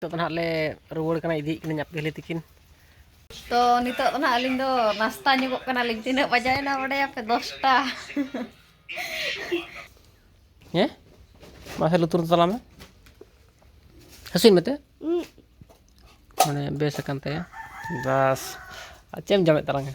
ᱱᱤᱛᱚᱜ ᱫᱚ ᱱᱟᱦᱟᱜ ᱞᱮ ᱨᱩᱣᱟᱹᱲ ᱠᱟᱱᱟ ᱤᱫᱤᱭᱮᱫ ᱠᱤᱱᱟᱹᱧ ᱟᱯᱮ ᱦᱤᱞᱤ ᱛᱤᱠᱤᱱ ᱛᱚ ᱱᱤᱛᱚᱜ ᱫᱚ ᱱᱟᱦᱟᱜ ᱟᱹᱞᱤᱧ ᱫᱚ ᱱᱟᱥᱛᱟ ᱧᱚᱜᱚᱜ ᱠᱟᱱᱟᱞᱤᱧ ᱛᱤᱱᱟᱹᱜ ᱵᱟᱡᱟᱭᱮᱱᱟ ᱵᱟᱰᱟᱭᱟᱯᱮ ᱫᱚᱥᱴᱟ ᱦᱮᱸ ᱢᱟᱥᱮ ᱞᱩᱛᱩᱨ ᱛᱟᱞᱟ ᱢᱮ ᱦᱟᱹᱥᱩᱭ ᱢᱮᱛᱮ ᱢᱟᱱᱮ ᱵᱮᱥ ᱟᱠᱟᱱ ᱛᱟᱭᱟ ᱵᱟᱥ ᱟᱨ ᱪᱮᱫ ᱮᱢ ᱡᱚᱢᱮᱫ ᱛᱟᱞᱟᱝᱟ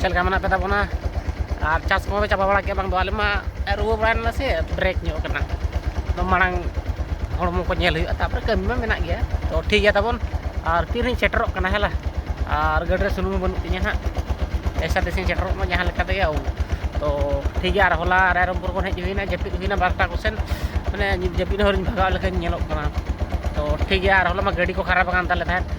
ᱪᱮᱫ ᱞᱮᱠᱟ ᱢᱮᱱᱟᱜ ᱯᱮ ᱛᱟᱵᱚᱱᱟ ᱟᱨ ᱪᱟᱥ ᱠᱚᱢᱟ ᱯᱮ ᱪᱟᱵᱟ ᱵᱟᱲᱟ ᱠᱮᱫ ᱵᱟᱝ ᱫᱚ ᱟᱞᱮ ᱢᱟ ᱨᱩᱣᱟᱹ ᱵᱟᱲᱟᱭᱮᱱᱟ ᱥᱮ ᱵᱨᱮᱠ ᱧᱚᱜ ᱠᱟᱱᱟ ᱟᱫᱚ ᱢᱟᱲᱟᱝ ᱦᱚᱲᱢᱚ ᱠᱚ ᱧᱮᱞ ᱦᱩᱭᱩᱜᱼᱟ ᱛᱟᱨᱯᱚᱨᱮ ᱠᱟᱹᱢᱤ ᱢᱟ ᱢᱮᱱᱟᱜ ᱜᱮᱭᱟ ᱛᱚ ᱴᱷᱤᱠ ᱜᱮᱭᱟ ᱛᱟᱵᱚᱱ ᱟᱨ ᱛᱤᱨᱤᱧ ᱥᱮᱴᱮᱨᱚᱜ ᱠᱟᱱᱟ ᱦᱮᱞᱟ ᱟᱨ ᱜᱟᱹᱰᱤ ᱨᱮ ᱥᱩᱱᱩᱢ ᱵᱟᱹᱱᱩᱜ ᱛᱤᱧᱟᱹ ᱦᱟᱸᱜ ᱮᱥᱟ ᱛᱮᱥᱤᱧ ᱥᱮᱴᱮᱨᱚᱜ ᱢᱟ ᱡᱟᱦᱟᱸ ᱞᱮᱠᱟ ᱛᱮᱜᱮ ᱛᱚ ᱴᱷᱤᱠ ᱜᱮᱭᱟ ᱟᱨ ᱦᱚᱞᱟ ᱨᱟᱭᱨᱚᱝᱯᱩᱨ ᱠᱷᱚᱱ ᱦᱮᱡ ᱦᱩᱭᱱᱟ ᱡᱟᱹᱯᱤᱫ ᱦᱩᱭᱱᱟ ᱵᱟᱨᱚᱴᱟ ᱠᱚᱥᱮᱱ ᱢᱟᱱᱮ ᱡᱟᱹᱯᱤᱫ ᱦᱚᱨᱤᱧ ᱵᱷᱟᱜᱟᱣ ᱞᱮᱠᱟᱧ ᱧᱮᱞᱚᱜ ᱠᱟᱱᱟ ᱛᱚ ᱴᱷᱤᱠ ᱜᱮᱭᱟ ᱟᱨ ᱦᱚᱞᱟ ᱢᱟ ᱜᱟᱹᱰᱤ ᱠᱚ ᱠᱷᱟᱨᱟᱯ ᱟᱠᱟᱱ ᱛᱟᱞᱮ ᱛᱟᱦᱮᱸᱫ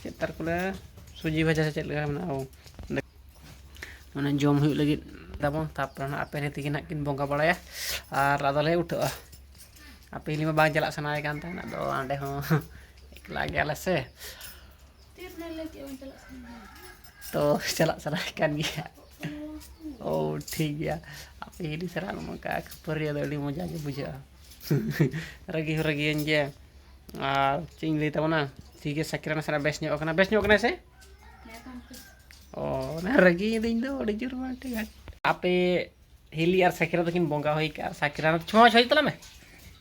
ᱪᱮᱫ ᱛᱟᱨ ᱠᱚ ᱞᱟᱹᱭᱟ ᱥᱩᱡᱤ ᱵᱷᱟᱡᱟ ᱥᱮ ᱪᱮᱫ ᱞᱮᱠᱟ ᱢᱮᱱᱟᱜᱼᱟ ᱢᱟᱱᱮ ᱡᱚᱢ ᱦᱩᱭᱩᱜ ᱞᱟᱹᱜᱤᱫ ᱛᱟᱵᱚᱱ ᱛᱟᱨᱯᱚᱨᱮ ᱦᱟᱸᱜ ᱟᱯᱮ ᱦᱮᱸ ᱛᱟᱹᱠᱤᱱ ᱦᱟᱸᱜ ᱠᱤᱱ ᱵᱚᱸᱜᱟ ᱵᱟᱲᱟᱭᱟ ᱟᱨ ᱟᱫᱚ ᱞᱮ ᱩᱴᱷᱟᱹᱜᱼᱟ ᱟᱨ ᱯᱟᱹᱭᱞᱟᱹ ᱢᱟ ᱵᱟᱝ ᱪᱟᱞᱟᱜ ᱥᱟᱱᱟᱭᱮ ᱠᱟᱱ ᱛᱟᱦᱮᱱ ᱟᱫᱚ ᱚᱸᱰᱮ ᱦᱚᱸ ᱮᱠᱞᱟ ᱜᱮᱭᱟᱞᱮ ᱥᱮ ᱛᱚ ᱪᱟᱞᱟᱜ ᱥᱟᱱᱟᱭᱮ ᱠᱟᱱ ᱜᱮᱭᱟ ᱳ ᱴᱷᱤᱠ ᱜᱮᱭᱟ ᱟᱯᱮ ᱦᱤᱨᱤ ᱥᱟᱞᱟᱜ ᱱᱚᱝᱠᱟ ᱠᱷᱟᱹᱯᱟᱹᱨᱤ ᱫᱚ ᱟᱹᱰᱤ ᱢᱚᱡᱟ ᱜᱮ ᱵᱩᱡᱷᱟᱹᱜᱼᱟ ᱨᱟᱹᱜᱤ ᱦᱚᱸ ᱨᱟᱹᱜᱤᱭᱟᱹᱧ ᱜᱮᱭᱟ ᱟᱨ ᱪᱮᱫ ᱤᱧ ᱞᱟᱹᱭ ᱛᱟᱵᱚᱱᱟ ᱴᱷᱤᱠ ᱜᱮᱭᱟ ᱥᱟᱠᱤᱨᱟ ᱱᱟᱥᱮᱱᱟᱜ ᱵᱮᱥ ᱧᱚᱜ ᱠᱟᱱᱟ ᱵᱮᱥ ᱧᱚᱜ ᱠᱟᱱᱟᱭ ᱥᱮ ᱚ ᱚᱱᱟ ᱨᱟᱹᱜᱤᱭᱮᱫᱟᱹᱧ ᱤᱧ ᱫᱚ ᱟᱹᱰᱤ ᱡᱳᱨ ᱵᱟᱝ ᱴᱷᱤᱠ ᱟᱯᱮ ᱦᱤᱞᱤ ᱟᱨ ᱥᱟᱠᱤᱨᱟ ᱛᱟᱹᱠᱤᱱ ᱵᱚᱸᱜᱟ ᱦᱩᱭ ᱠᱟᱜᱼᱟ ᱥᱟᱠᱤᱨᱟ ᱪᱷᱚᱢᱟ ᱪᱷᱚᱭ ᱛᱟᱞᱟᱝ ᱢᱮ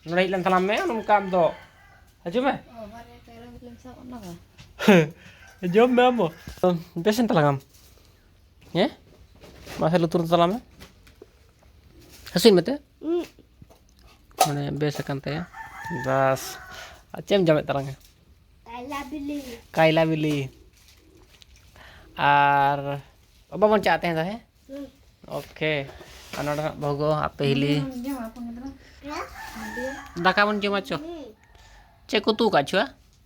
ᱱᱚᱰᱮ ᱦᱮᱡ ᱞᱮᱱ ᱛᱟᱞᱟᱝ ᱢᱮ ᱱᱚᱝᱠᱟ ᱟᱢ ᱫᱚ ᱦᱤᱡᱩᱜ ᱢᱮ ᱡᱚᱢ ᱢᱮ ᱟᱢ ᱵᱮᱥᱮᱱ ᱛᱟᱞᱟᱝ ᱟᱢ ᱦᱮᱸ ᱢᱟᱥᱮ ᱞᱩᱛᱩᱨ ᱛᱟᱞᱟᱝ ᱢᱮ ᱦᱟᱹᱥᱩᱭ ᱢᱮᱛᱮ ᱢᱟᱱᱮ ᱵᱮᱥ ᱟᱠᱟᱱ ᱛᱟᱭᱟ ᱵᱟᱥ ᱟᱨ ᱪᱮᱫ ᱮᱢ ᱡᱚᱢᱮᱫ ᱛᱟᱞᱟᱝᱟ ᱠᱟᱭᱞᱟ ᱵᱤᱞᱤ ᱟᱨ ᱵᱟᱵᱚᱱ ᱪᱟᱜ ᱛᱟᱦᱮᱸ ᱫᱚ ᱦᱮᱸ ᱳᱠᱮ ᱟᱨ ᱱᱚᱰᱮ ᱦᱟᱸᱜ ᱵᱷᱚᱜᱚ ᱟᱯᱮ ᱦᱤᱞᱤ ᱫᱟᱠᱟ ᱵᱚᱱ ᱡᱚᱢᱟ ᱪᱚ ᱪᱮᱫ ᱠᱚ ᱩᱛᱩ ᱟᱠᱟᱫ ᱪᱚ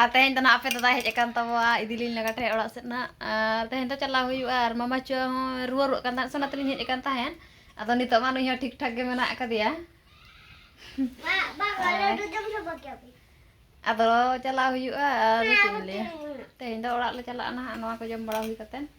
ᱟᱨ ᱛᱮᱦᱮᱧ ᱫᱚ ᱱᱟᱜ ᱟᱯᱮ ᱫᱟᱫᱟᱭ ᱦᱮᱡ ᱟᱠᱟᱱ ᱛᱟᱵᱚᱣᱟ ᱤᱫᱤᱞᱤᱧ ᱞᱟᱜᱟ ᱴᱷᱮᱡ ᱚᱲᱟᱜ ᱥᱮᱫ ᱱᱟᱜ ᱟᱨ ᱛᱮᱦᱮᱧ ᱫᱚ ᱪᱟᱞᱟᱣ ᱦᱩᱭᱩᱜᱼᱟ ᱟᱨ ᱢᱟᱢᱟ ᱪᱚ ᱦᱚᱸ ᱨᱩᱣᱟᱹ ᱨᱩᱣᱟᱹᱜ ᱠᱟᱱ ᱛᱟᱦᱮᱸᱫ ᱥᱚᱱᱟ ᱛᱮᱞᱤᱧ ᱦᱮᱡ ᱟᱠᱟᱱ ᱛᱟᱦᱮᱸᱫ ᱟᱫᱚ ᱱᱤᱛᱚᱜ ᱢᱟ ᱱᱩᱭ ᱦᱚᱸ ᱴᱷᱤᱠ ᱴᱷᱟᱠ ᱜᱮ ᱢᱮᱱᱟᱜ ᱟᱠᱟᱫᱮᱭᱟ ᱟᱫᱚ ᱪᱟᱞᱟᱣ ᱦᱩᱭᱩᱜᱼᱟ ᱟᱨ ᱪᱮᱫ ᱤᱧ ᱞᱟᱹᱭᱟ ᱛᱮᱦᱮᱧ ᱫᱚ ᱚᱲᱟᱜ ᱞᱮ ᱪᱟᱞᱟᱜᱼᱟ ᱱᱟᱦᱟᱜ ᱱᱚᱣᱟ ᱠᱚ ᱡᱚᱢ ᱵᱟᱲᱟ ᱦᱩᱭ ᱠᱟᱛᱮᱫ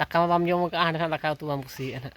ᱫᱟᱠᱟ ᱢᱟ ᱵᱟᱢ ᱡᱚᱢ ᱠᱟᱜᱼᱟ ᱦᱟᱸᱰᱮ ᱱᱟᱜ ᱫᱟᱠᱟ ᱩᱛᱩ ᱵᱟᱢ ᱠᱩᱥᱤᱭᱟᱜᱼᱟ ᱦᱟᱸᱜ